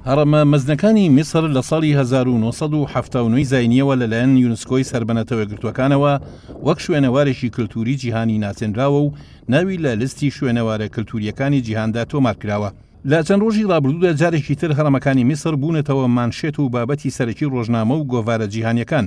هەڕەمە مەزنەکانی میسر لە ساڵی هەزار و نۆ سەد و حەفتا و نۆی زاینییەوە لەلایەن یونسکۆی سەر بە نەتەوە یەکگرتووەکانەوە وەک شوێنەوارێکی کلتووری جیهانی ناسێنراوە و ناوی لە لیستی شوێنەوارە کلتوورییەکانی جیهاندا تۆمار کراوە. لە چەند ڕۆژی ڕابردوودا جارێکی تر هەڕەمەکانی میسر بوونەتەوە مانشێت و بابەتی سەرەکی ڕۆژنامە و گۆڤارە جیهانییەکان،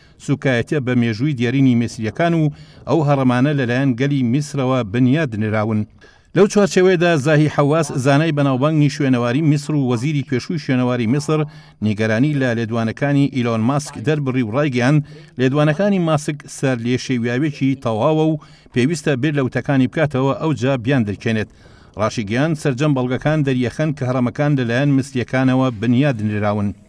سوکایەتیە بە مێژووی دێرینی میسریەکان و ئەو هەڕەمانە لەلایەن گەلی میسرەوە بنیات نراون. لەو چوارچێوەیەدا زاهی حەواس زانای بەناوبانگی شوێنەواری میسر و وەزیری پێشووی شوێنەواری میسر نیگەرانی لە لێدوانەکانی ئیلۆن ماسک دەربڕی و ڕایگەیاند لێدوانەکانی ماسک سەر لێشێویاوێکی تەواوە و پێویستە بیر لە وتەکانی بکاتەوە ئەوجا بیان درکێنێت ڕاشیگەیاند سەرجەم بەڵگەکان دەریەخەن کە هەڕەمەکان لەلایەن میسریەکانەوە بنیات نراون.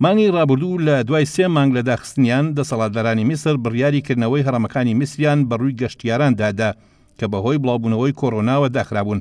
مانگی ڕابردوو لە دوای سێ مانگ لە داخستنیان، دەسەڵاتدارانی میسر بڕیاری کردنەوەی هەڕەمەکانی میسریان بە ڕووی گەشتیاران دا دا کە بە هۆی بڵاوبوونەوەی کۆرۆناوە داخرابوون.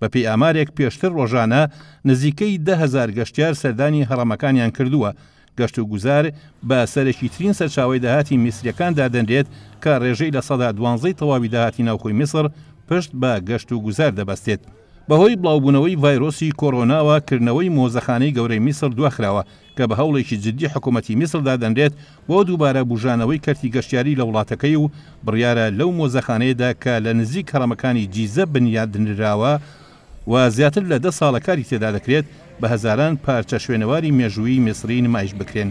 بە پێی ئامارێک پێشتر ڕۆژانە نزیکەی دە هەزار گەشتیار سەردانی هەڕەمەکانیان کردووە. گەشتوگوزار بە سەرەکی ترین سەرچاوەی داهاتی میسریەکان دادەنرێت کە ڕێژەی لە سەدا دوانزەی تەواوی داهاتی ناوخۆی میسر پشت بە گەشتوگوزار دەبەستێت. بەهۆی بڵاوبوونەوەی ڤایرۆسی کۆرۆناوە کردنەوەی مۆزەخانەی گەورەی میسڕ دواخراوە، کە بە هەوڵێکی جددی حکومەتی میسڕ دادەنرێت بۆ دووبارە بوژانەوەی کەرتی گەشتیاری لە وڵاتەکەی و بڕیارە لەو مۆزەخانەیەدا کە لە نزیک هەڕەمەکانی جیزە بنیاتنراوە و زیاتر لە دە ساڵە کاری تێدا دەکرێت بە هەزاران پارچە شوێنەواری مێژوویی میسڕی نمایش بکرێن.